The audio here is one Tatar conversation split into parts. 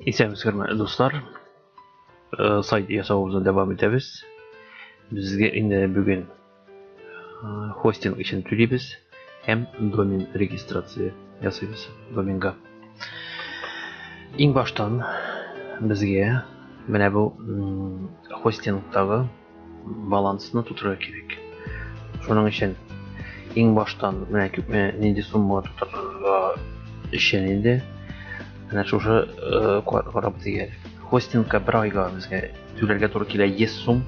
Исәнмез хөрмәтле дуслар. Э, сайт ясавыбызны дәвам итәбез. Безгә инде бүген э, хостинг өчен түлибез һәм домен регистрация ясыйбыз доменга. Иң баштан безгә менә бу хостингтагы балансны тутырырга кирәк. Шуның өчен иң баштан менә күпме нинди сумма тутырырга өчен инде менә шушы э, карап дигәр. Хостингка бер айга безгә түләргә туры килә 100 сум.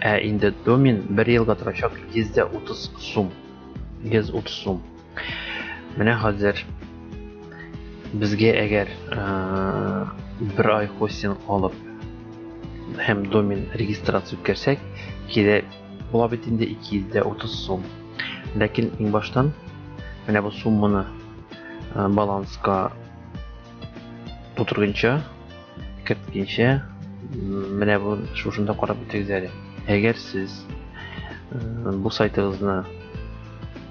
Ә инде домен бер елга торачак 130 сум. 130 сум. Менә хәзер безгә әгәр бер ай хостинг алып һәм домен регистрация үткәрсәк, кирәк була бит инде 230 сум. Ләкин иң баштан менә бу сумманы баланска тутыргынча, керткәнчә менә бу шушында карап үтегез әле. Әгәр сез бу сайтыгызны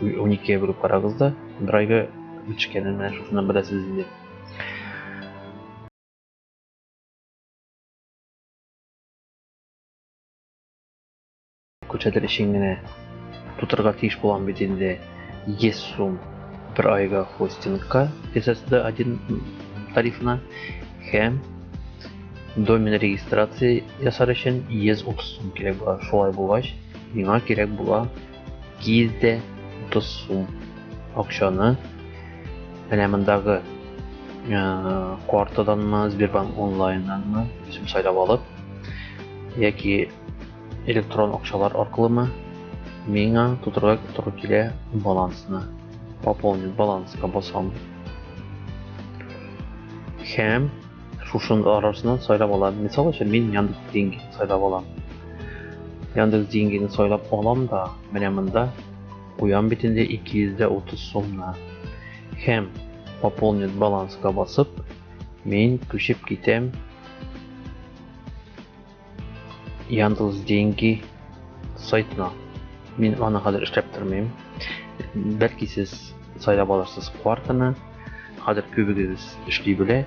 12-гә бөлеп карагыз да, бер айга ничкәнен менә шушыннан беләсез инде. Күрсәтер өчен генә тутырга тиеш булам бит инде 100 сум бер айга хостингка SSD 1 тарифына һәм домен регистрация ясар өчен 130 сум кирәк була. Шулай булгач, миңа кирәк була Киз дә 30 сум акчаны менә мондагы э, картаданмы, Сбербанк онлайннанмы үзем сайлап алып, яки электрон акчалар аркылымы миңа тутырга туры килә балансны. Пополнить баланска басам. Һәм шушының арасынан сайлап алам мисал өчен мин яндекс деньги сайлап алам яндекс деньгине сайлап алам да менә монда куям бит инде 230 сумны һәм пополнить баланска басып мин күчеп китәм Яндус деньги сайтына. Мин аны хәзер эшләп тормыйм. Бәлки сез сайлап алырсыз квартаны. Хәзер күбегез эшли белә.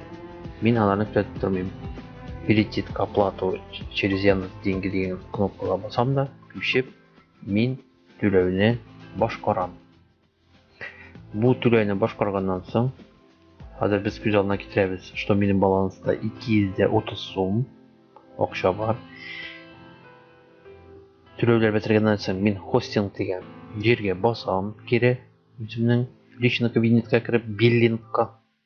Мин аларны күзәтеп тормыйм. Перейти к оплату через Яндус деньги дигән кнопкага басам да, күчеп, мин түләүне башкарам. Бу түләүне башкарганнан соң, хәзер без күз алдына китерәбез, что минем баланста 230 сум акча бар. Түләүләр бетергәннән соң мин хостинг дигән җиргә басам кире үземнең личный кабинетка кереп биллингка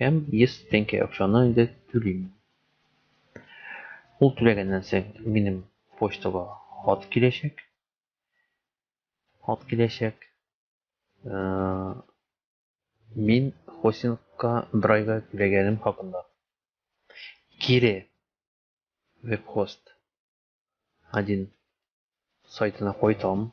Һәм 100 тәңкә акчаны инде түлим мин. Ул түләгәннән соң минем почтага хат киләчәк. Хат киләчәк. Мин хостингка бер айга түләгәнем хакында. Кире вебхост 1 сайтына кайтам.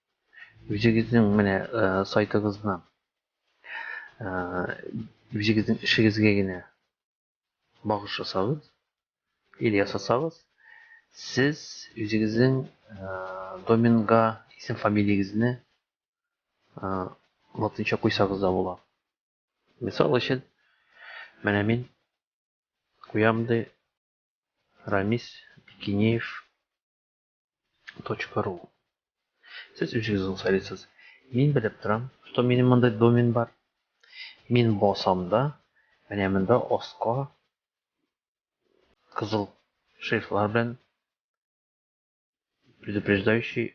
Үзегезнең менә сайтыгызны үзегезнең эшегезгә генә багыш ясагыз, или ясасагыз, сез үзегезнең доменга исем-фамилиягезне латынча куйсагыз да була. Мисал өчен, менә мин куям ди Рамис Бикинеев .ру Сез үзегез аңсайлыйсыз. Мин белеп торам, что минем мондый домен бар. Мин басам да, менә монда аска кызыл шрифтлар белән предупреждающий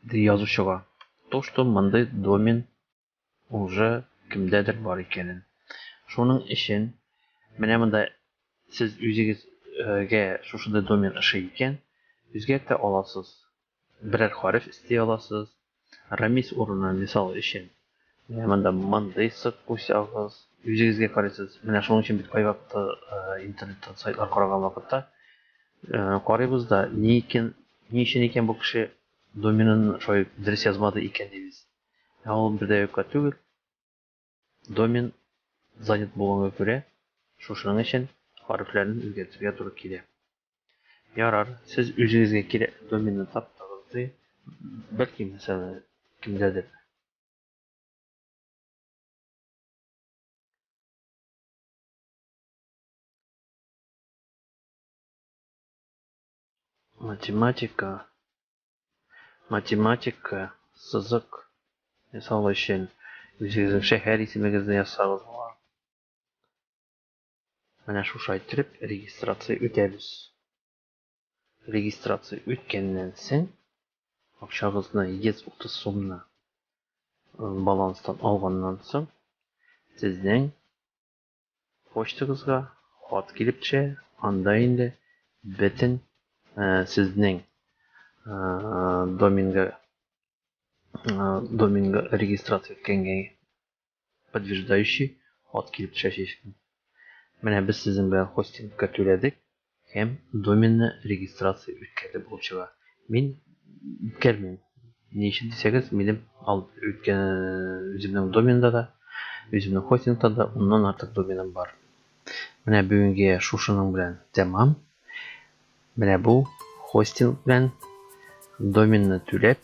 Ди язучыга. То, что мондый домен уже кемдәдер бар икәнен. Шуның өчен менә монда сез үзегезгә шушындай домен ошый икән, үзгәртә аласыз. Берәр хариф исти аласыз. Рамис урынына, мисал өчен, Менә монда мондый сык кусягыз. Үзегезгә карыйсыз. Менә шуның өчен бит кайвакыты интернеттан сайтлар караган вакытта карыйбыз да, ни икән, ни өчен икән бу кеше доменын шулай дөрес язмады икән дибез. Ә ул бер дә юкка түгел. Домен занят булганга күрә, шушының өчен хәрефләрен үзгәртергә туры килә. Ярар, сез үзегезгә кирәкле доменны таптыгыз ди. Бәлки, мәсәлән, кемдәдер математика математика сызык ясау өчен үзегезнең шәһәр исемегезне ясагыз Менә шушай иттереп регистрация үтәбез. Регистрация үткәннән соң акчагызны 130 сумны баланстан алганнан соң сезнең почтагызга хат килеп төшә, анда инде бөтен сезнең доминга доминга регистрация үткәнгә подтверждающий ат килеп төшәчәк икән. Менә без сезнең белән хостингка түләдек һәм доменны регистрация үткәрде булып чыга. Мин үткәрмим. Ни өчен дисәгез, минем үткән үземнең доменда да, үземнең хостингта да уннан артык доменым бар. Менә бүгенге шушының белән тәмам. Менә бу хостинг белән доменны түләп